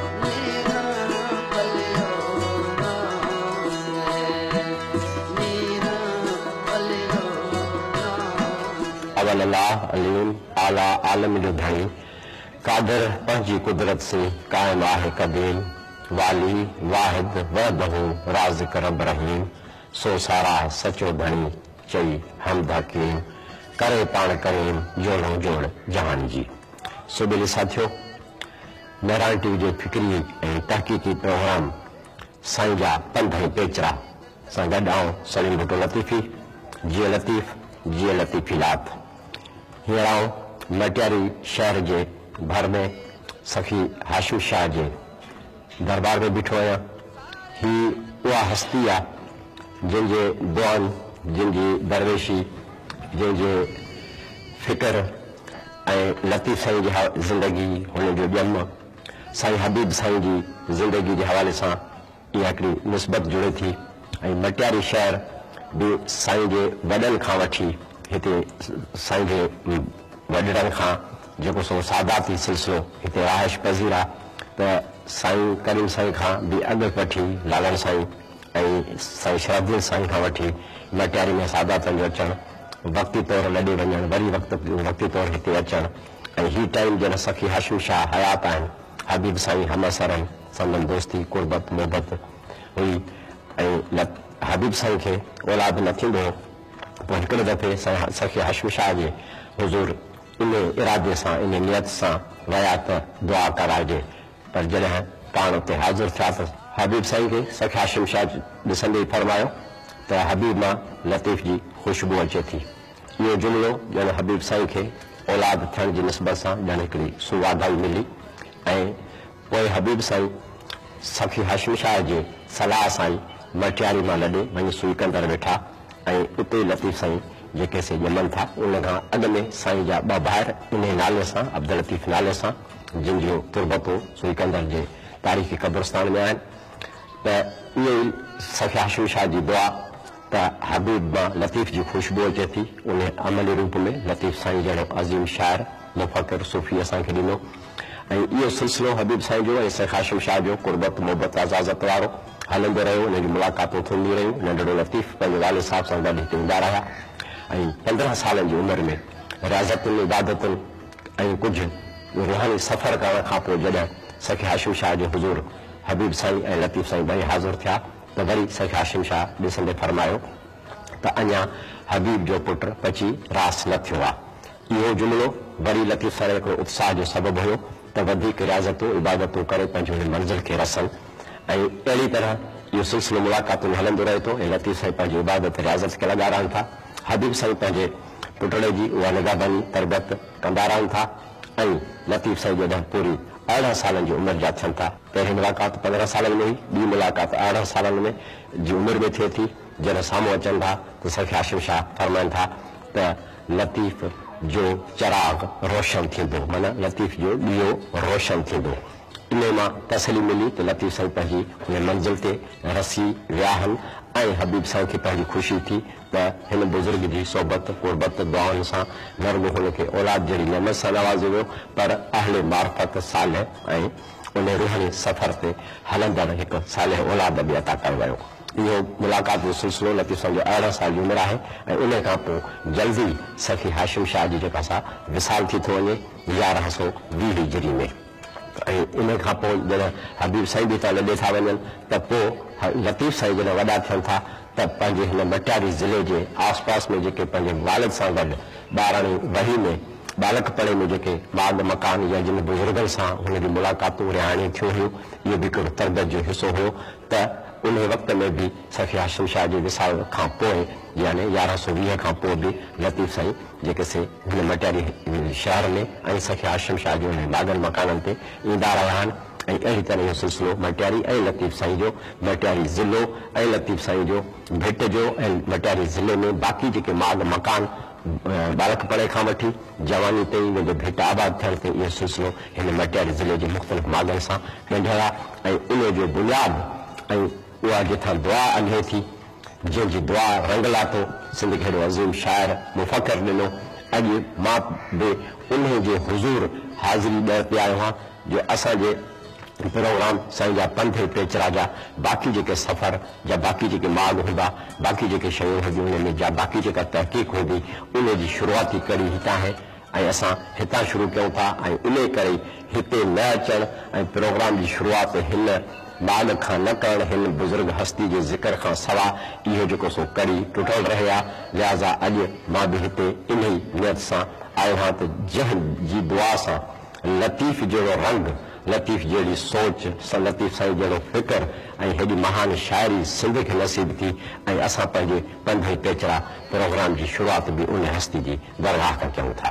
اول الله عليم اعليٰ عالم جو ڌڻي قادر پنهنجي قدرت سين قائم آهي قديم والي واحد وحده رازق رب رحيم سو ساراهه سچو ڌڻي چئي حمد حڪيم ڪري پاڻ ڪريم جوڙئون جوڙ جهان جي سو ٻلي ساٿيو! مهراڻ ٽي وي جي فڪري ۽ تحقيقي پروگرام سائين جا پنڌ ۽ پيچرا سان گڏ آئون سليم ڀٽو لطيفي جيئي لطيف جيئي لطيفي لات هينئر آئون مٽياري شهر جي ڀر ۾ سخي هاشم شاهه جي دربار ۾ بيٺو آهيان هي اها هستي آ جنهن جي دعائن، جنهن جي درويشي، جنهن جي فڪر ۽ لطيف سائين جي زندگي هن جو ڄم سائين حبيب سائين جي زندگي جي حوالي سان اها هڪڙي نسبت جڙي ٿي ۽ مٽياري شهر به سائين جي وڏن کان وٺي هتي سائين جي وڏڙن کان جيڪو سو ساداتي سلسلو هتي رهائش پذير آ ته سائين ڪريم سائين کان به اڳ وٺي لالڻ سائين ۽ سائين شرافدين سائين کان وٺي لٽياري ۾ ساداتن جو اچڻ، وقتي طور لڏي وڃڻ، وري وقتي طور هتي اچڻ ۽ هي ٽائيم جڏهن سخي هاشم شاهه حيات آهن، حبيب سائين همعصر هن، سندن دوستي، قربت، محبت هئي ۽ حبيب سائين کي اولاد نه ٿيندو هو، پوء هڪڙي دفعي سائين سخي هاشم شاهه جي حضور انهي ارادي سان، انهي نيت سان ويا ته دعا ڪرائجي. پر جڏهن پاڻ اتي حاضر ٿيا ته حبيب سائين کي سک هاشم شاهه ڏسندي ئي فرمايو ته حبيب مان لطيف جي خوشبو اچي ٿي. اهو جملو ڄڻ حبيب سائين کي اولاد ٿيڻ جي نسبت سان ڄڻ هڪڙي سوڀاڳائي ملي ۽ پوء حبيب سائين سخي هاشم شاهه جي صلاح سان ئي مٽياري مان لڏي وڃي سوئيڪندر ويٺا ۽ اتي ئي لطيف سائين جيڪي سي ڄمن ٿا. ان کان اڳ ۾ سائين جا ٻه ڀائر انهي نالي سان عبداللطيف نالي سان. جن جو تربتو سوئيڪندر جي تاريخي قبرستان ۾ آهن ته اهي ئي سخي هاشم شاهه جي دعا ته حبيب مان لطيف جي خوشبو اچي ٿي انهي عملي روپ ۾ لطيف سائين جهڙو عظيم شاعر، مفڪر، صوفي اسان کي ڏنو ۽ اهو سلسلو حبيب سائين جو ۽ سخي هاشم شاهه جو قربت محبت عزازت وارو هلندو رهيو انهن جون ملاقاتون ٿينديون رهيون ننڍڙو لطيف پنهنجي والد صاحب سان گڏ هتي ايندا رهيا ۽ پندرهن سالن جي عمر ۾ رياضتن عبادتن ۽ ڪجهه روحاني سفر ڪرڻ کان پوء جڏهن سيخ هاشم شاهه جي حضور حبيب سائين ۽ لطيف سائين ٻئي حاضر ٿيا ته وري سيخ هاشم شاهه ڏسندي فرمايو ته اڃا حبيب جو پٽ پچي راس نه ٿيو آ. اهو جملو وري لطيف سائين هڪڙو اتساهه جو سبب هيو ته وڌيڪ رياضتون عبادتون ڪري پنهنجي انهي منزل کي رسن ۽ اهڙي طرح اهو سلسلو ملاقاتن جو هلندو رهي ٿو ۽ لطيف سائين پنهنجي عبادت رياضت کي لڳارائن ٿا. حبيب سائين پنهنجي پٽڙي جي اها نگهباني، تربيت، ڪندا رهن ٿا ۽ لطيف سائين جڏهن پوري ارڙهن سالن جي عمر جا ٿين ٿا، پهرين ملاقات پندرهن سالن ۾ هئي، ٻي ملاقات ارڙهن سالن ۾ جي عمر ۾ ٿئي ٿي، جڏهن سامهون اچن ٿا ته سيف هاشم شاهه فرمائن ٿا ته لطيف جو چراغ روشن ٿيندو، معنيٰ لطيف جو ڏيئو روشن ٿيندو. انهيء مان تسلي ملي ته لطيف سائين پنهنجي ان منزل تي رسي وياهن ۽ حبيب سائين کي پنهنجي خوشي ٿي ته هن بزرگ جي صحبت، قربت، دعائن سان نه رڳو هن کي اولاد جهڙي نعمت سان نوازيو ويو پر اهل معرفت صالح ۽ ان روحاني سفر تي هلندڙ هڪ صالح اولاد به عطا ڪيو ويو. اهو ملاقات جو سلسلو لطيف سائين جي ارڙهن سال جي عمر آهي ۽ انهيء کان پوء جلدي سخي هاشم شاهه جي جيڪا سا وصال ٿي ٿو وڃي يارهن سؤ ويهه هجري ۾. ۽ ان کان پوء جڏهن حبيب سائين به اتان لڏي ٿا وڃن ته پوء لطيف سائين جڏهن وڏا ٿين ٿا ته پنهنجي هن مٽياري ضلعي جي آس پاس ۾ جيڪي پنهنجي والد سان گڏ ٻاراڻي وهي ۾ ٻالڪپڻي ۾ جيڪي ماڳ مڪان يا جن بزرگن سان هن جون ملاقاتون رهاڻيون ٿيون هيون اهو به هڪڙو تربيت جو حصو هيو ته انهي وقت ۾ به سيف هاشم شاهه جي وصال کان پوء يعني يارهن سؤ ويهه کان پوء به لطيف سائين جيڪي سي هن مٽياري شهر ۾ ۽ سيف هاشم شاهه جي انهن لاڳن مڪانن تي ايندا رهيا آهن ۽ اهڙي طرح اهو سلسلو مٽياري ۽ لطيف سائين جو مٽياري ضلعو ۽ لطيف سائين جو ڀٽ جو ۽ مٽياري ضلعي ۾ باقي جيڪي ماڳ مڪان ٻالڪپڻ کان وٺي جواني تائين ويندي ڀٽ آباد ٿيڻ تائين اهو سلسلو هن مٽياري ضلعي جي مختلف ماڳن سان ڳنڍيل آهي ۽ ان جو بنياد ۽ اها جتان دعا الهي ٿي جنهن جي دعا رنگ لاتو سنڌ کي هيڏو عظيم شاعر مفڪر ڏنو اڄ مان به انهي جي حضور حاضري ڏيڻ پيا آيو هان جو اسان جي پروگرام سائين جا پنڌ ۽ پيچرا جا باقي جيڪي سفر جا باقي جيڪي ماڳ هوندا، باقي جيڪي شيون هونديون انهن ۾ جا باقي جيڪا تحقيق هوندي انهي جي شروعاتي ڪڙي هتان هي ۽ اسان هتان شروع ڪيون ٿا ۽ انهي ڪري هتي نه اچڻ ۽ پروگرام جي شروعات هن ماڳ کان نه ڪرڻ هن بزرگ هستي جي ذڪر کان سوا اهو جيڪو سو ڪڙي ٽٽل رهي ها لهذا اڄ مان به هتي انهي نيت سان آيو هان ته جنهن جي دعا سان لطيف جهڙو رنگ، لطيف جهڙي سوچ، لطيف سائين جهڙو فڪر ۽ هيڏي مهان شاعري سنڌ کي نصيب ٿي ۽ اسان پنهنجي پنڌ ۽ پيچرا پروگرام جي شروعات به ان هستي جي درگاهه تان ڪيون ٿا.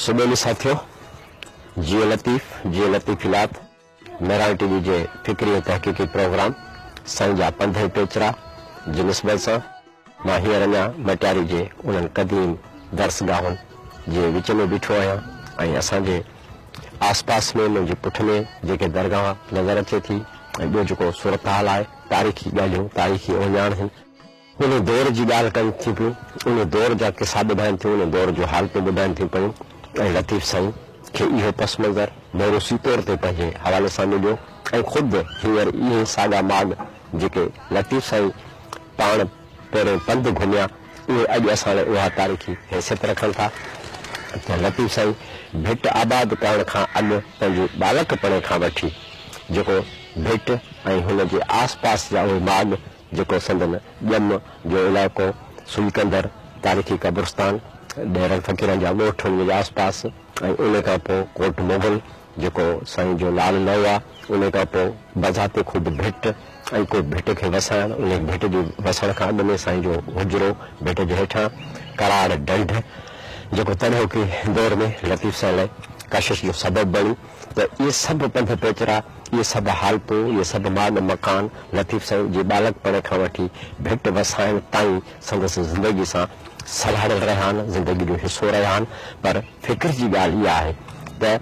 سٻيلي ساٿيو! جيئي لطيف، جيئي لطيفيلات، مهراڻ ٽي وي جي فڪري ۽ تحقيقي پروگرام سائين جا پنڌ ۽ پيچرا جي نسبت سان مان هينئر اڃا مٽياري جي انهن قديم درس گاهن جي وچ ۾ بيٺو آهيان ۽ اسان جي آس پاس ۾ منهنجي پٺلي جيڪي درگاهه نظر اچي ٿي ۽ ٻيو جيڪو صورتحال آهي تاريخي ڳالهيون تاريخي اوهڃاڻ هن ان دور جي ڳالهه ڪن ٿيون پيون، ان دور جا قصا ٻڌائن ٿيون، ان دور جون حالتون ٻڌائن ٿيون پيون ۽ لطيف سائين کي اهو پس منظر موروثي طور تي پنهنجي حوالي سان مليو ۽ خود هينئر اهي ساڳا ماڳ جيڪي لطيف سائين پاڻ پهرين پنڌ گهميا اهي اڄ اسان لاء اها تاريخي حيثيت رکن ٿا ته لطيف سائين ڀٽ آباد ڪرڻ کان اڳ پنهنجي ٻالڪپڻي کان وٺي جيڪو ڀٽ ۽ هن جي آس پاس جا اهي ماڳ جيڪو سندن ڄم جو علائقو سلڪندر، تاريخي قبرستان، ڏيرن فقيرن جا ڳوٺ انهيء جي آس پاس ۽ انهيء کان پوء ڪوٽ مغل جيڪو سائين جو نالو نه هئا انهيء کان پوء بذات خود ڀٽ ۽ ڪوٽ ڀٽ کي وسائڻ انهيء ڀٽ جي وسڻ کان اڳ ۾ سائين جو حجرو ڀٽ جي هيٺان ڪراڙ ڍنڍ جيڪو تڏهوڪي دور ۾ لطيف سائين لاء ڪشش جو سبب بڻي ته اهي سڀ پنڌ پيچرا، اهي سڀ حالتون، اهي سڀ ماڳ مڪان لطيف سائين جي ٻالڪپڻ کان وٺي ڀٽ وسائڻ تائين سندس زندگي سان سلهاڙيل رهيا آهن، زندگي جو حصو رهيا آهن، پر فڪر جي ڳالهه اها آهي ته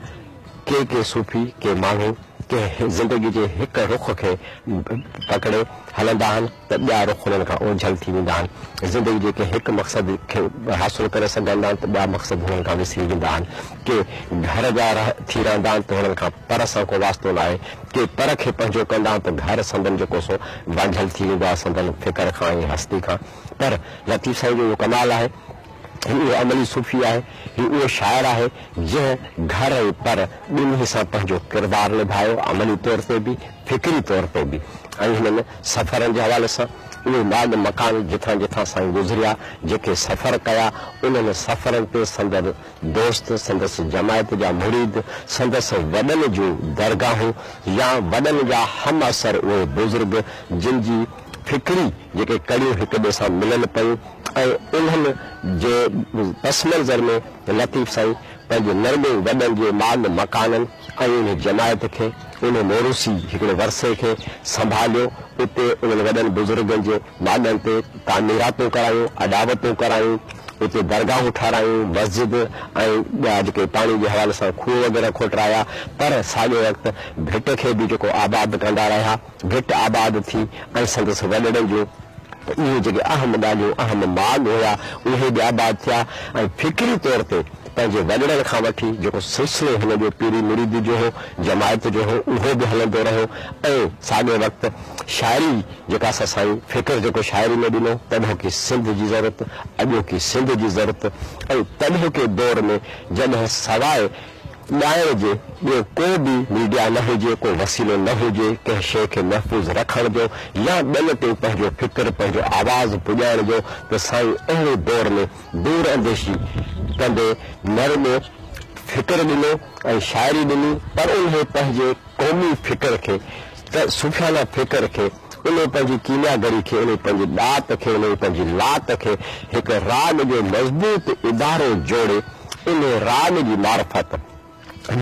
ڪي ڪي صوفي، ڪي ماڻهو ڪنهن زندگي جي هڪ رخ کي پڪڙي هلندا آهن، ته ٻيا رخ انهن کان اوجهل ٿي ويندا آهن. زندگي جي ڪنهن هڪ مقصد کي حاصل ڪري سگهندا آهن ته ٻيا مقصد هنن کان وسري ويندا آهن. ڪي گهر جا رهه ٿي رهندا آهن ته هنن کان پر سان ڪو واسطو ناهي. ڪي پر کي پنهنجو ڪندا آهن ته گهر سندن جيڪو سو وانجهل ٿي ويندو آهي سندن فڪر کان ۽ هستي کان. پر لطيف سائين جو اهو ڪمال آهي. هي اهو عملي صوفي آهي. هي اهو شاعر آهي جنهن گهر ۽ پر ٻنهي سان پنهنجو ڪردار نڀايو، عملي طور تي به فڪري طور تي به ۽ هنن سفرن جي حوالي سان اهي ماڳ مڪان جتان جتان سائين گذريا، جيڪي سفر ڪيا، انهن سفرن تي سندن دوست، سندس جماعت جا مريد، سندس وڏن جون درگاهون يا وڏن جا همعصر اهي بزرگ جن جي فڪري جيڪي ڪڙيون هڪ ٻئي سان ملن پيون ۽ انهن جي پس منظر ۾ لطيف سائين پنهنجي نرمي وڏن جي ماڳ مڪانن ۽ انهي جماعت کي، انهي موروثي هڪڙي ورثي کي سنڀاليو، اتي انهن وڏن بزرگن جي ماڳن تي تعميراتون ڪرايون، اڏاوتون ڪرايون، اتي درگاهون ٺارايون، مسجد ۽ ٻيا جيڪي پاڻي جي حوالي سان کوهه وغيره کوٽرايا، پر ساڳئي وقت ڀٽ کي به جيڪو آباد ڪندا رهيا. گهٽ آباد ٿي ۽ سندس وڏڙن جو ته اهي جيڪي اهم ڳالهيون اهم ماڳ هيا اهي به آباد ٿيا ۽ فڪري طور تي پنهنجي وڏڙن کان وٺي جيڪو سلسلو هن جو پيري مريدي جو هو جماعت جو هو اهو به هلندو رهيو ۽ ساڳئي وقت شاعري جيڪا اسان سائين فڪر جيڪو شاعري ۾ ڏنو تڏهوڪي سنڌ جي ضرورت اڄوڪي سنڌ جي ضرورت ۽ تڏهوڪي دور ۾ جڏهن سواء ڳائڻ جي ٻيو ڪو به ميڊيا نه هجي، ڪو وسيلو نه هجي ڪنهن شيء کي محفوظ رکڻ جو يا ٻين تائين پنهنجو فڪر، پنهنجو آواز پڄائڻ جو ته سائين اهڙي دور ۾ دور انديشي ڪندي نه رڳو فڪر ڏنو ۽ شاعري ڏني پر انهي پنهنجي قومي فڪر کي ته صوفيانه فڪر کي، انهيء پنهنجي ڪيميا گري کي، انهيء پنهنجي ڏات کي، انهيء پنهنجي لات کي هڪ راڳ جو مضبوط ادارو جوڙي، انهيء راڳ جي معرفت،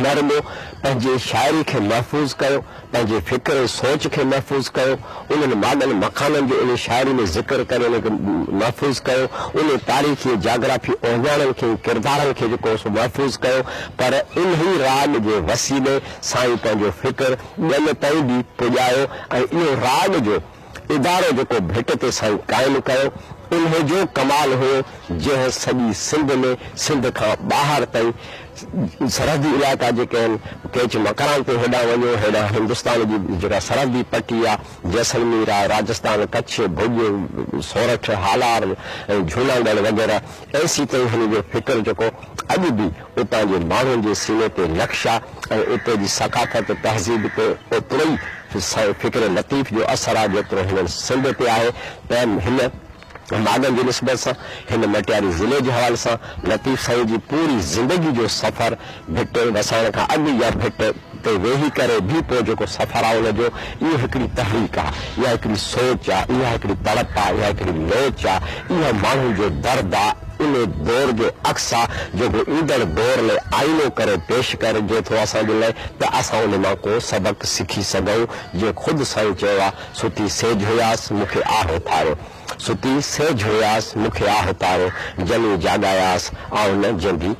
نرمو، پنهنجي شاعري کي محفوظ ڪيو، پنهنجي فڪر ۽ سوچ کي محفوظ ڪيو، انهن ماڳن مڪانن جو انهيء شاعري ۾ ذڪر ڪري انهن کي محفوظ ڪيو، انهيء تاريخي ۽ جاگرافي اهڃاڻن کي ۽ ڪردارن کي جيڪو هو سو محفوظ ڪيو، پر انهيء راڳ جي وسيلي سائين پنهنجو فڪر، ڳل تائين به پڄايو ۽ اهو راڳ جو ادارو جيڪو ڀٽ تي سائين قائم ڪيو، انهي جو ڪمال هيو، جنهن سڄي سنڌ ۾، سنڌ کان ٻاهر تائين، سرحدي علائقا جيڪي آهن، ڪيچ مڪران تي هيڏانهن وڃو، هيڏانهن هندستان جي جيڪا سرحدي پٽي آ، جيسلمير آ، راجستان، ڪڇ، ڀوڄ، سورٺ، هالار ۽ جهوناڳڙهه وغيره، ايسي تائين هن جو فڪر جيڪو اڄ به اتان جي ماڻهن جي سيني تي نقش آ ۽ اتي جي ثقافت تهذيب تي اوتروئي فڪر لطيف جو اثر آ جيترو هنن سنڌ تي آهي ته هن ماڳن جي نسبت سان هن مٽياري ضلعي جي حوالي سان لطيف سائين جي پوري زندگي جو سفر ڀٽ وسائڻ کان اڳ يا ڀٽ تي ويهي ڪري به پوء جيڪو سفر آ ان جو اهو هڪڙي تحريڪ آ، اها هڪڙي سوچ آ، اها هڪڙي تڙپ آ، اها هڪڙي لوچ آ، اها ماڻهن جو درد آ، انهي دور جو عڪس آ جيڪو ايندڙ دور لئه آئينو ڪري پيش ڪرجي ٿو اسان جي لئه ته اسان ان مان ڪو سبق سکي سگهون جيئن خود سائين چيو آ ستي سيج هياس مون کي آه اٿاريو ستي سيج هياس مون کي آه اٿاريو جني جاڳاياس آئون نه جيندي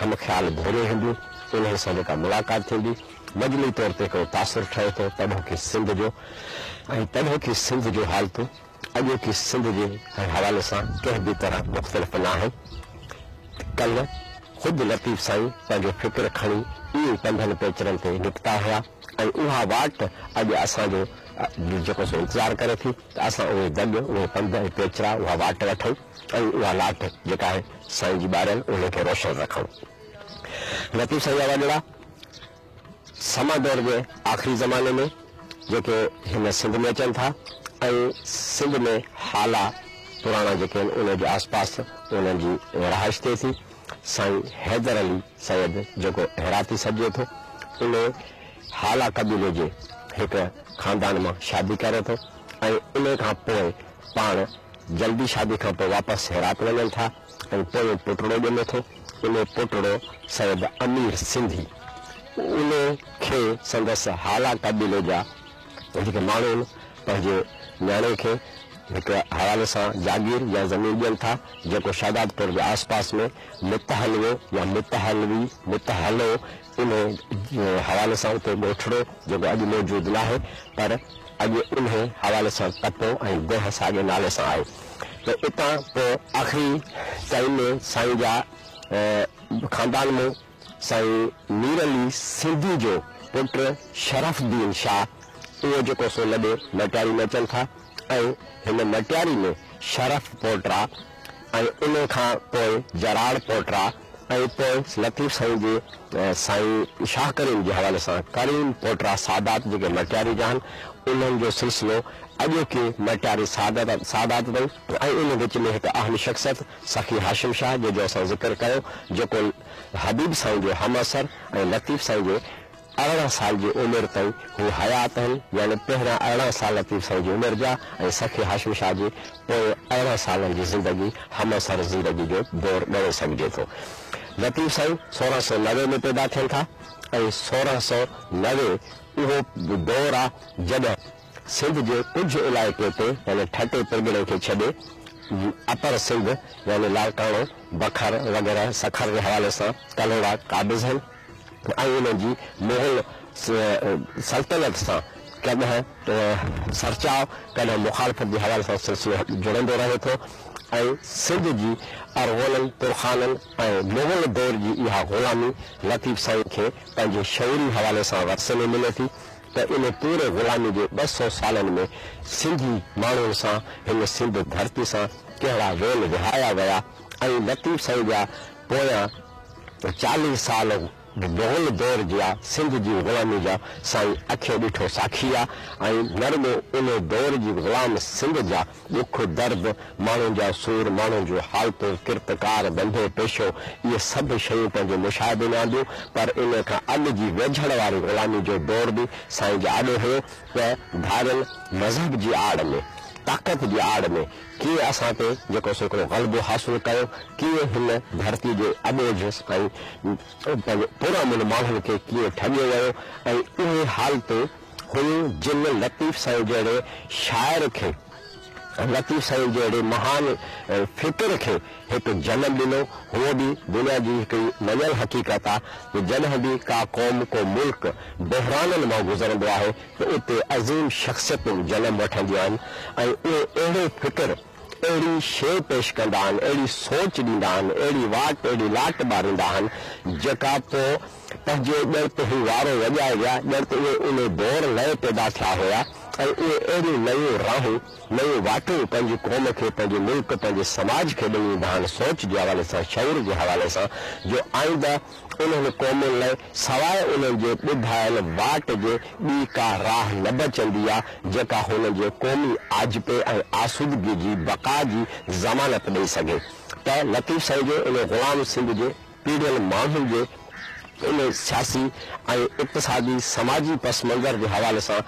هم خيال گهري هنديون، انهن سان جيڪا ملاقات ٿيندي، مجموعي طور تي هڪڙو تاثر ٺهي ٿو پرڏوهڪي سنڌ جو ۽ پرڏوهڪي سنڌ جون حالتون اڄوڪي سنڌ جي حوالي سان ڪنهن به طرح مختلف ناهن. ڪلهه خود لطيف سائين پنهنجو فڪر کڻي ايئن ئي پنڌن پيچرن تي نڪتا هيا ۽ اها واٽ اڄ اسان جو دل جيڪو سو انتظار ڪري ٿي ته اسان اهي دڳ، اهي پنڌ ۽ پيچرا، اها واٽ وٺون. ۽ اها لاٽ جيڪا آهي سائين جي ٻاريل انهي کي روشن رکڻ. لطيف سائين جا وڏڙا سما دور جي آخري زماني ۾ جيڪي هن سنڌ ۾ اچن ٿا ۽ سنڌ ۾ هالا پراڻا جيڪي آهن انهي جي آس پاس انهن جي رهائش ٿئي ٿي سائين حيدر علي سيد جيڪو هراتي سڏجي ٿو انهي هالا قبيلي جي هڪ خاندان مان شادي ڪري ٿو ۽ انهي کان پوء پاڻ جلدي شادي کان پوء واپس هرات وڃن ٿا ۽ پويون پٽڙو ڄمي ٿو. انهي پٽڙو سيد امير سنڌي انهي کي سندس هالا قبيلي جا جيڪي ماڻهو آهن پنهنجي نياڻي کي هڪ حوالي سان جاگير يا زمين ڏين ٿا جيڪو شهدادپور جي آس پاس ۾ متحلوو يا متحلوي، متحلو، انهيء حوالي سان اتي ڳوٺڙو، جيڪو اڄ موجود ناهي، پر اڳي انهيء حوالي سان ڪپو ۽ ديهه ساڳئي نالي سان آهي ته اتان پوء آخري تائين ۾ سائين جا خاندان ۾ سائين مير علي سنڌي جو پٽ شرف الدين شاهه اهو جيڪو سو لڏي مٽياري ۾ اچن ٿا ۽ هن مٽياري ۾ شرف پوٽرا ۽ انهيء کان پوء جراڙ پوٽرا ۽ پوء لطيف سائين جي سائين شاهه ڪريم جي حوالي سان ڪريم پوٽرا سادات جيڪي مٽياري جا آهن انهن جو سلسلو اڄوڪي مٽياري سادات تائين ۽ انهن وچ ۾ هڪ اهم شخصيت سخي هاشم شاهه جنهن جو اسان ذڪر ڪيو جيڪو حبيب سائين جو همعصر ۽ لطيف سائين جي ارڙهن سال جي عمر تائين هو حيات آهن، يعني پهريان ارڙهن سال لطيف سائين جي عمر جا ۽ سخي هاشم شاهه جي پوئين ارڙهن سالن جي زندگي همعصر زندگي جو دور ڳڻي سگهجي ٿو. لطيف سائين سورهن سؤ نوي ۾ پيدا ٿين ٿا ۽ سورهن سؤ نوي اهو دور آ جڏهن سنڌ جي ڪجهه علائقي تي يعني ٺٽي پرڳڻي کي ڇڏي اپر سنڌ يعني لاڙڪاڻو، بکر وغيره سکر جي حوالي سان ڪلهوڙا قابض آهن. ۽ انهن جي مغل سلطنت سان ڪڏهن سرچاء ڪڏهن مخالفت جي حوالي سان سلسلو جڙندو رهي ٿو ۽ سنڌ جي ارغونن، ترخانن ۽ مغل دور جي اها غلامي لطيف سائين کي پنهنجي شعوري حوالي سان ورثي ۾ ملي ٿي ته ان پوري غلامي جي ٻه سؤ سالن ۾ سنڌي ماڻهن سان هن سنڌ ڌرتي سان ڪهڙا ويل وهايا ويا ۽ لطيف سائين جا پويان چاليهه سال مغل دور جيا سنڌ جي غلامي جا سائين اکين ڏٺو ساکي آ ۽ نه رڳو ان دور جي غلام سنڌ جا ڏک درد ماڻهن جا سور ماڻهن جون حالتون ڪرت ڪار ڌنڌو پيشو اهي سڀ شيون پنهنجي مشاهدي ۾ آنديون پر ان کان اڳ جي ويجهڙ واري غلامي جو دور به سائين جي آڏو هيو ته ڌاريل مذهب جي آڙ ۾ طاقت جي آڙ ۾ ڪيئن اسان تي جيڪو سيڪڙو غلبو حاصل ڪيو، ڪيئن هن ڌرتي جي اٻوجهه ۽ پنهنجي پرامن ماڻهن کي ڪيئن ٺڳيو ويو ۽ اهي حالتون هيون جن لطيف سائين جهڙي شاعر کي ۽ لطيف سائين جهڙي مهان فڪر کي هڪ جنم ڏنو، هوء به دنيا جي هڪڙي مڃيل حقيقت آ ته جڏهن به ڪا قوم ڪو ملڪ بحرانن مان گذرندو آهي ته اتي عظيم شخصيتون جنم وٺنديون آهن ۽ اهي اهڙو فڪر، اهڙي شيء پيش ڪندا آهن، اهڙي سوچ ڏيندا آهن، اهڙي واٽ، اهڙي لاٽ ٻاريندا آهن، جيڪا پوء پنهنجي ڄڻ ته هو وارو وڄائي ويا، ڄڻ ته اهي ان دور نئين پيدا ٿيا هيا ۽ اهي اهڙيون نيون راهون، نيون واٽون پنهنجي قوم کي، پنهنجي ملڪ، پنهنجي سماج کي ڏيئي ويندا آهن، سوچ جي حوالي سان، شعور جي حوالي سان، جو آئنده، انهن قومن لاء سواء انهن جي ٻڌايل واٽ جي ٻي ڪا راهه نه بچندي آ، جيڪا هنن جي قومي آجپي ۽ آسودگي جي بقا جي ضمانت ڏئي سگهي ته لطيف سائين جي ان غلام سنڌ جي پيڙهيل ماڻهن جي ان سياسي ۽ اقتصادي سماجي پس منظر جي حوالي سان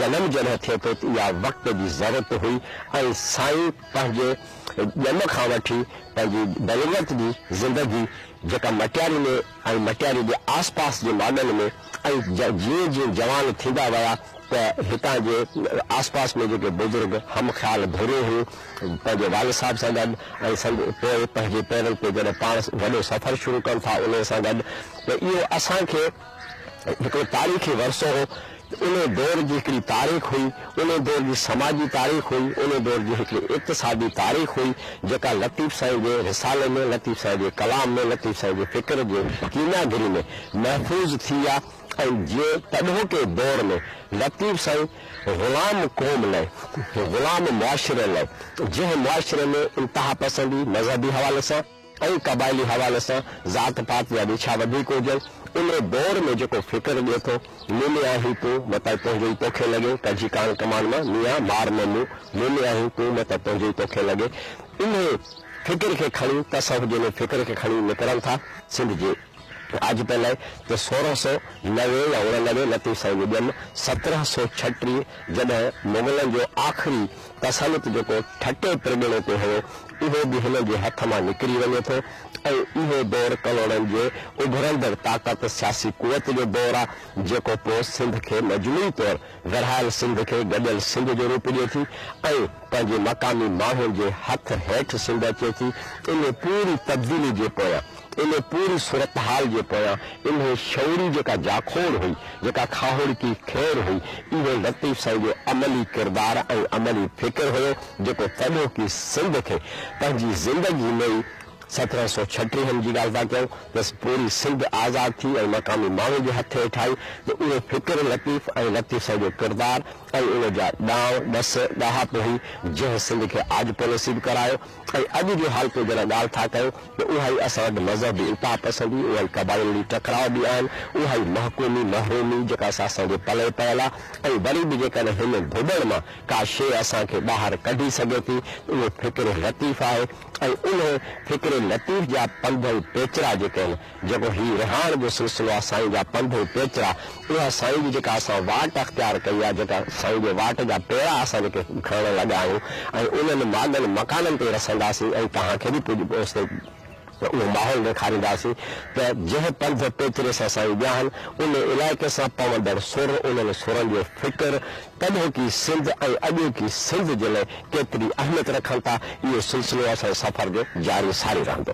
جنم جڏهن ٿئي ٿو ته اها وقت جي ضرورت هئي ۽ سائين پنهنجي ڄم کان وٺي پنهنجي بلوغت جي زندگي جيڪا مٽياري ۾ ۽ مٽياري جي آس پاس جي ماڳن ۾ ۽ جيئن جيئن جوان ٿيندا ويا ته هتان جي آس پاس ۾ جيڪي بزرگ هم خيال ڀيرون هيون پنهنجي والد صاحب سان گڏ ۽ سنگ پوء پنهنجي پيرن تي جڏهن پاڻ وڏو سفر شروع ڪن ٿا انهي سان گڏ ته اهو اسان کي هڪڙو تاريخي ورثو هو، ان دور جي هڪڙي تاريخ هئي، ان دور جي سماجي تاريخ هئي، ان دور جي هڪڙي اقتصادي تاريخ هئي، جيڪا لطيف سائين جي رسالي ۾، لطيف سائين جي ڪلام ۾، لطيف سائين جي فڪر جي ڪيمياگري ۾ محفوظ ٿي آ ۽ جنهن تڏهوڪي دور ۾ لطيف سائين غلام قوم لئه، غلام معاشري لئه، جنهن معاشري ۾ انتهاپسندي، مذهبي حوالي سان، ۽ قبائلي حوالي سان ذات پات جا ريڇا وڌيڪ هجن، انهي دور ۾ جيڪو فڪر ڏئي ٿو، موني آهين تون مئه ته تنهنجو ئي توکي لڳي، ڪجي ڪان ڪمان مان ميان مار نه مون، موني آهين تون مئه ته تنهنجو ئي توکي لڳي، انهي فڪر کي کڻي، تصوف جي انهي فڪر کي کڻي نڪرن ٿا، سنڌ جي. آج پئي لئي ته سورهن سئو نوي يا اڻنوي لطيف سائين جي ڄم سترهن سئو ڇٽيهه جڏهن مغلن جو آخري تسلط جيڪو ٺٽي پرڳڻي تي هيو اهو به هنن جي هٿ مان نڪري وڃي ٿو ۽ اهو دور ڪلهوڙن جي اڀرندڙ طاقت سياسي قوت جو دور آ جيڪو پوء سنڌ کي مجموعي طور ورهايل سنڌ کي گڏيل سنڌ جو روپ ڏئي ٿي ۽ پنهنجي مقامي ماڻهن جي هٿ هيٺ سنڌ اچي ٿي انهي پوري تبديلي جي پويان ان پوري صورتحال جي پويان انهي شعوري جيڪا جاکوڙ هئي، جيڪا کاهوڙڪي کير هئي، اهو لطيف سائين جو عملي ڪردار ۽ عملي فڪر هيو، جيڪو تڏهوڪي سنڌ کي پنهنجي زندگي ۾ ئي سترهن سؤ ڇٽيهن جي ڳالهه ٿا ڪيون تس پوري سنڌ آزاد ٿي ۽ مقامي ماڻهن جي هٿ هيٺ آئي ته اهو فڪر لطيف ۽ لطيف سائين جو ڪردار ۽ ان جا ڏانء ڏس ڏاهپ هئي، جنهن سنڌ کي آجپو نصيب ڪرايو. ۽ اڄ جو حال پوء جڏهن ڳالهه ٿا ڪيو ته اها ئي اسان وٽ مذهبي التهه پسندي، اها ئي قبائلي ٽڪراء به آهن، اها ئي محڪومي محرومي جيڪا اسان جي پلئه پيل آ ۽ وري به جيڪڏهن هن ڌوٻڻ مان ڪا شيء اسان کي ٻاهر ڪڍي سگهي ٿي ته اهو فڪر لطيف آهي ۽ انهي فڪر لطيف جا پنڌ ۽ پيچرا جيڪي آهن جيڪو هي رهاڻ جو سلسلو آ سائين جا پنڌ ۽ پيچرا اها سائين جي جيڪا اسان واٽ اختيار ڪئي آ جيڪا سائين جي واٽ جا پيرا اسان جيڪي کڻڻ لڳا آهيون ۽ انهن ماڳن مڪانن تي رسنداسين ۽ توهان کي به ڪجهه اوستي اهو ماحول ڏيکارينداسين ته جنهن پنڌ پيچري سان سائين وياهن ان علائقي سان پوندڙ سر انهن سرن جو فڪر تڏهوڪي سنڌ ۽ اڄوڪي سنڌ جي لاء ڪيتري اهميت رکن ٿا اهو سلسلو اسان جي سفر جو جاري ساري رهندو.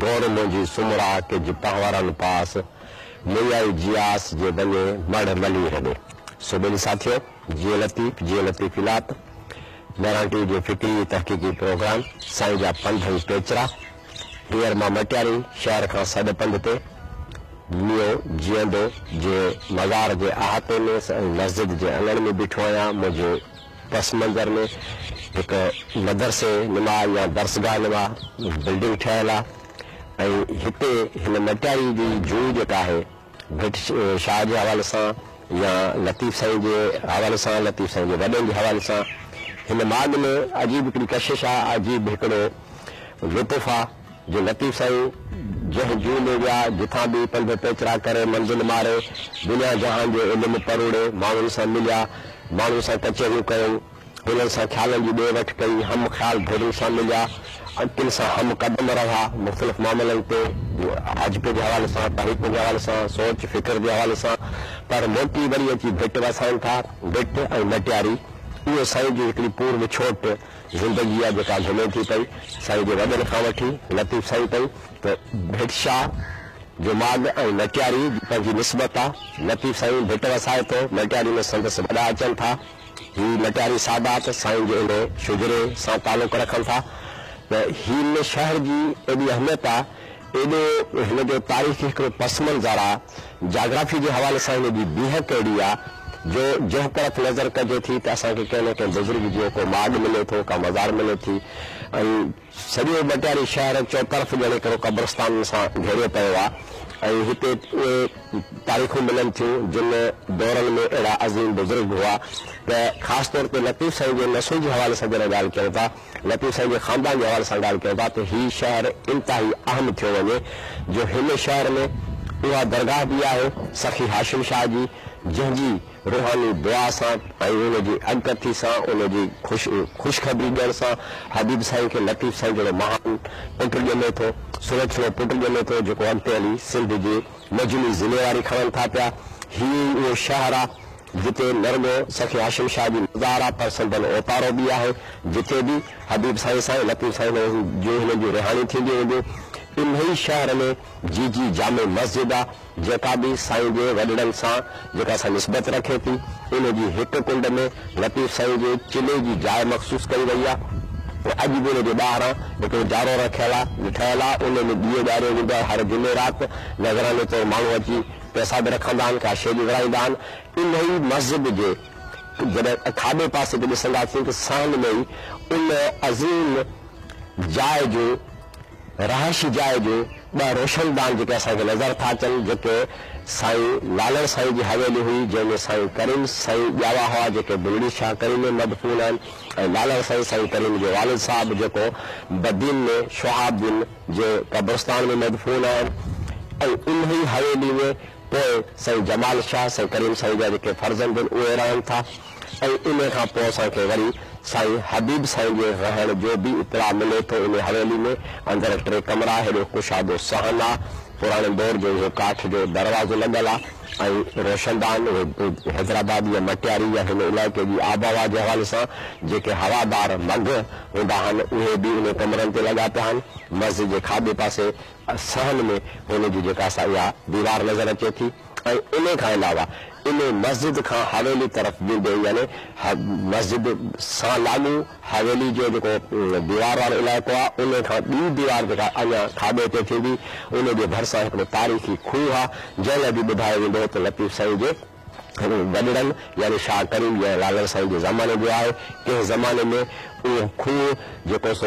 گهوڙ منهنجي سومرا ڪج پهورن پاس، ميئائي جياس جي ونڃي مڙهه ملي هڏي. سو ٻن ساٿيو، جيئي لطيف جيئي لطيف الاپ، ميرانٽي جو فڪري تحقيقي پروگرام، سائين جا پنڌ ۽ پيچرا، پير مان مٽياري شهر کان سڏ پنڌ تي، ميو جيئندو جي مزار جي احاطي ۾ ۽ مسجد جي اڱڻ ۾ بيٺو آهيان، منهنجي. پس منظر ۾ هڪ مدرسي نما يا درسگاهه نما بلڊنگ ٺهيل آهي ۽ هتي هن مٽياري جي جوء جيڪا آهي ڀٽ شاهه جي حوالي سان يا لطيف سائين جي حوالي سان لطيف سائين جي وڏن جي حوالي سان هن ماڳ ۾ عجيب هڪڙي ڪشش آهي عجيب هڪڙو لطف آهي. جو لطيف سائين جنهن جوء ۾ ويا، جتان به پنڌ پيچرا ڪري، منزل ماري، دنيا جهان جو علم پروڙي، ماڻهن سان مليا، ماڻهن سان ڪچهريون ڪيائون، انهن سان خيالن جي ڏي وٺ ڪئي، هم خيال ڌرين سان مليا، انڪن سان هم قدم رهيا، مختلف معاملن تي، حجڪ جي حوالي سان، طريقن جي حوالي سان، سوچ فڪر جي حوالي سان، پر موٽي وري اچي ڀٽ وسائن ٿا، ڀٽ ۽ مٽياري، اهو سائين جي هڪڙي پور وڇوٽ، زندگي آ جيڪا گهمي ٿي پئي سائين جي وڏن کان وٺي لطيف سائين تائين ته ڀٽ شاهه جو ماڳ ۽ مٽياري جي پنهنجي نسبت آ لطيف سائين ڀٽ وسائي ٿو مٽياري ۾ سندس وڏا اچن ٿا هي مٽياري سادات سائين جي ان شجري سان تعلق رکن ٿا ته هن شهر جي ايڏي اهميت آ ايڏو هن جو تاريخي هڪڙو پس منظر آ، جاگرافي جي حوالي سان هن جي بيهڪ اهڙي آ، جو جنهن پرت نظر ڪجي ٿي ته اسان کي ڪنهن نه ڪنهن بزرگ جيو ڪو ماڳ ملي ٿو، ڪا مزار ملي ٿي ۽ سڄو ڀٽياري شهر چوطرف ڄڻ هڪڙو قبرستانن سان گهيريو پيو آ ۽ هتي اهي تاريخون ملن ٿيون جن دورن ۾ اهڙا عظيم بزرگ هئا ته خاص طور تي لطيف سائين جي نسل جي حوالي سان جڏهن ڳالهه ڪيون ٿا لطيف سائين جي خاندان جي حوالي سان ڳالهه ڪيون ٿا ته هي شهر انتهائي اهم ٿيو وڃي جو هن شهر ۾ اها درگاهه به آهي سخي هاشم شاهه جي جنهن جي روحاني دعا سان ۽ ان جي اڳڪٿي سان ان جي خوشخبري ڏيڻ سان حبيب سائين کي لطيف سائين جهڙو مهان پٽ ڄمي ٿو سلڇڻو پٽ ڄمي ٿو جيڪو اڳتي هلي سنڌ جي مجموعي ذميواري کڻن ٿا پيا هي ئي اهو شهر آ جتي نه رڳو سخي هاشم شاهه جي مزار پر سندن اوتارو به آهي، جتي به حبيب سائين سان لطيف سائين جون هنن جون رهاڻيون ٿينديون هونديون. انهيء شهر ۾ جي جي جامع مسجد آ، جيڪا به سائين جي وڏڙن سان جيڪا سا نسبت رکي ٿي، ان جي هڪ ڪنڊ ۾ لطيف سائين جي چلي جي جاء مخصوص ڪئي وئي آ ۽ اڄ به ان جي ٻاهران هڪڙو جارو رکيل آ ٺهيل آ، ان ۾ ڏيئو ٻاريو ويندو آ، هر جمعي رات نذراني طور ماڻهو اچي. پئسا به رکندا آهن، ڪا شيء به ورهائيندا آهن. انهيء مسجد جي جڏهن کاٻي پاسي تي ڏسنداسين ته ساڻن ۾ ئي ان عظيم جاء جو، رهائشي جاء جو ٻه روشندان جيڪي اسان کي نظر ٿا اچن، جيڪي سائين لالڻ سائين جي حويلي هئي، جنهن ۾ سائين ڪريم سائين ڄاوا هئا، جيڪي بلڙي شاهه ڪريم ۾ مدفون آهن ۽ لالڻ سائين، سائين ڪريم جو والد صاحب، جيڪو بدين ۾ شهاب الدين، جي قبرستان ۾ مدفون آهن ۽ انهي حويلي ۾ پوء سائين جمال شاهه سائين ڪريم سائين جا جيڪي فرزند ان اهي رهن ٿا ۽ انهي کان پوء اسان کي وري سائين حبيب سائين جي رهڻ جو به اطلاع ملي ٿو انهي حويلي ۾ اندر ٽي ڪمرا هيڏو ڪشادو صحن آ پراڻي دور جو اهو ڪاٺ جو دروازو لڳل آ ۽ روشندان حيدرآباد يا مٽياري يا هن علائقي جي آبهوا جي حوالي سان جيڪي هوادار مگهه هوندا آهن اهي به انهي ڪمرن تي لڳا پيا آهن. مسجد جي کاٻي پاسي صحن ۾ هن جي جيڪا سا اها ديوار نظر اچي ٿي ۽ انهي کان علاوه انهي مسجد کان حويلي طرف ويندي يعني مسجد سان لاڳو حويلي جو جيڪو ديوار وارو علائقو آهي ان کان ٻي ديوار جيڪا اڃا کاٻي تي ٿيندي ان جي ڀرسان هڪڙو تاريخي کوهه آهي جنهن لاء به ٻڌايو ويندو هو ته لطيف سائين جي وڏڙن يعني شاهه ڪريم يا لالڻ سائين جي زماني جو آهي ڪنهن زماني ۾ اهو کوهه جيڪو سو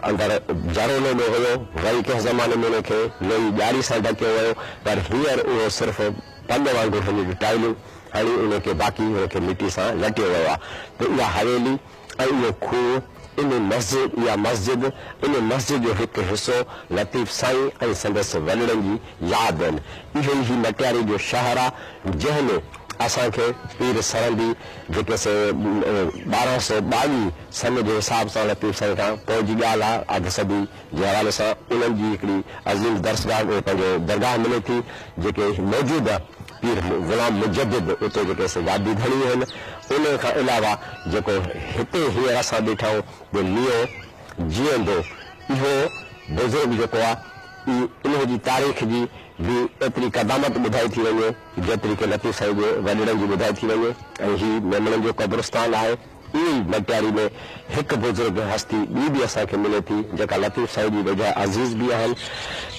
اندر جهرولي ۾ هيو وري ڪنهن زماني ۾ ان کي لوئي ڄاري سان ڍڪيو ويو پر هينئر اهو صرف پڳ وانگر هن جون ٽائلون هڻي ان کي باقي هن کي مٽي سان لٽيو ويو آهي ته اها حويلي ۽ اهو کوهه ان مسجد اها مسجد ان مسجد جو هڪ حصو لطيف سائين ۽ سندس وڏڙن جي ياد آهن اهو ئي هي مٽياري جو شهر آهي جنهن ۾ اسان کي پير سرهندي جيڪي سي ٻارهن سؤ ٻاويهه سن جي حساب سان لطيف سائين کان پوء جي ڳالهه آهي اڌ صدي جي حوالي سان انهن جي هڪڙي عظيم درسگاهه پنهنجو درگاهه ملي ٿي جيڪي موجوده پير غلام مجدد اتي جيڪي سجادي ڌڻي آهن انهي کان علاوه جيڪو هتي هينئر اسان بيٺا آهيون جو ميون جيئندو اهو بزرگ جيڪو آ اي انهي جي تاريخ جي به ايتري قدامت ٻڌائي ٿي وڃي جيتري ڪي لطيف سائين جي وڏڙن جي ٻڌائي ٿي وڃي ۽ هي ميمڻن جو قبرستان آهي. ائين ئي مٽياري ۾ هڪ بزرگ هستي ٻي به اسان کي ملي ٿي جيڪا لطيف سائين جي ويجها عزيز به آهن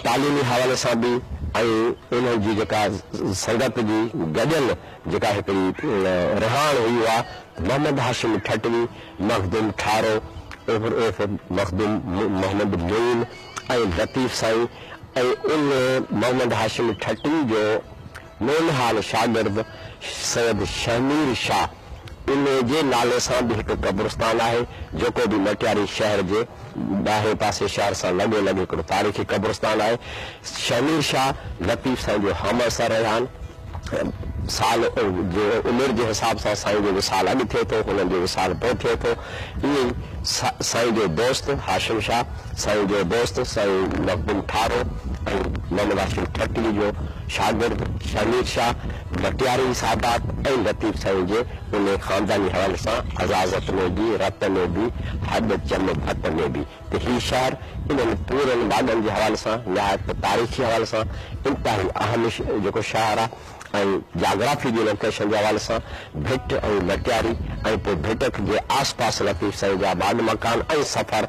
تعليمي حوالي سان به ۽ انهن جي جيڪا سنگت جي گڏيل جيڪا هڪڙي رهاڻ هئي اها محمد هاشم ٺٽوي، مخدوم ٺارو عرف مخدوم محمد معين ۽ لطيف سائين ۽ ان محمد هاشم ٺٽوي جو نونهال شاگرد سيد شهمير شاهه. انهيء جي نالي سان به هڪ قبرستان آهي، جيڪو به مٽياري شهر جي ٻاهرئين پاسي شهر سان لڳو لڳ هڪڙو تاريخي قبرستان آهي. شهمير شاهه لطيف سائين جو همعصر رهيان ۽ سال جي عمر جي حساب سان سائين جو وصال اڳ ٿئي ٿو، هنن جو وصال پوء ٿئي ٿو. ائين ئي سائين جو دوست هاشم شاهه، سائين جو دوست سائين مخدوم ٺارو ۽ محمد هاشم ٺٽوي جو شاگرد شهمير شاهه، ڀٽياري سادات ۽ لطيف سائين جي انهي خانداني حوالي سان عزازت ۾ به، رت ۾ به، هڏ چم ڀت ۾ به ته هي شهر انهن پورن واڳن جي حوالي سان نهايت تاريخي حوالي سان انتهائي اهم جيڪو شهر آ ۽ جاگرافي جي لوڪيشن جي حوالي سان ڀٽ ۽ ڀٽياري ۽ پوء ڀٽڪ جي آس پاس لطيف سائين جا واڳ مڪان ۽ سفر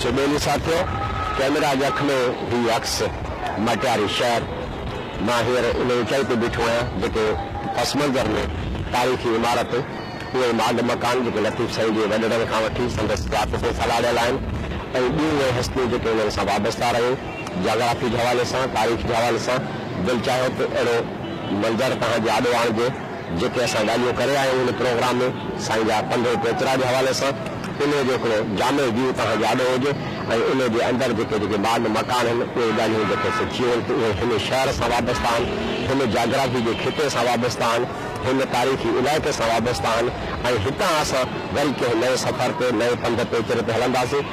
سو ٻيلي سان ٿيو. ڪئميرا جي اک ۾ هي عڪس مٽياري شهر، مان هينئر ان اوچائي تي بيٺو آهيان جتي پس منظر ۾ تاريخي عمارت، اهي ماڳ مڪان جيڪي لطيف سائين جي وڏڙن کان وٺي سندس ذات تي سلهاڙيل آهن ۽ ٻيون اهي هستيون جيڪي انهن سان وابسته رهيون، جاگرافي جي حوالي سان، تاريخ جي حوالي سان، دل چاهيو ته اهڙو منظر توهان جي آڏو آڻجي. جيڪي اسان ڳالهيون ڪري آيا آهيون ان پروگرام ۾ سائين جا پنڊرو پوترا جي حوالي سان انهي جو هڪڙو جامع ويو توهان جي آڏو هجي ۽ انهي جي اندر جيڪي جيڪي باغ مڪان آهن اهي ڳالهيون جيڪي سي ٿيون آهن اهي هن شهر سان وابسته آهن هن جاگرافي جي خطي سان وابسته آهن هن تاريخي علائقي سان وابسته آهن ۽ هتان اسان وري ڪنهن نئين سفر تي نئين پنڌ پيچري تي هلنداسين.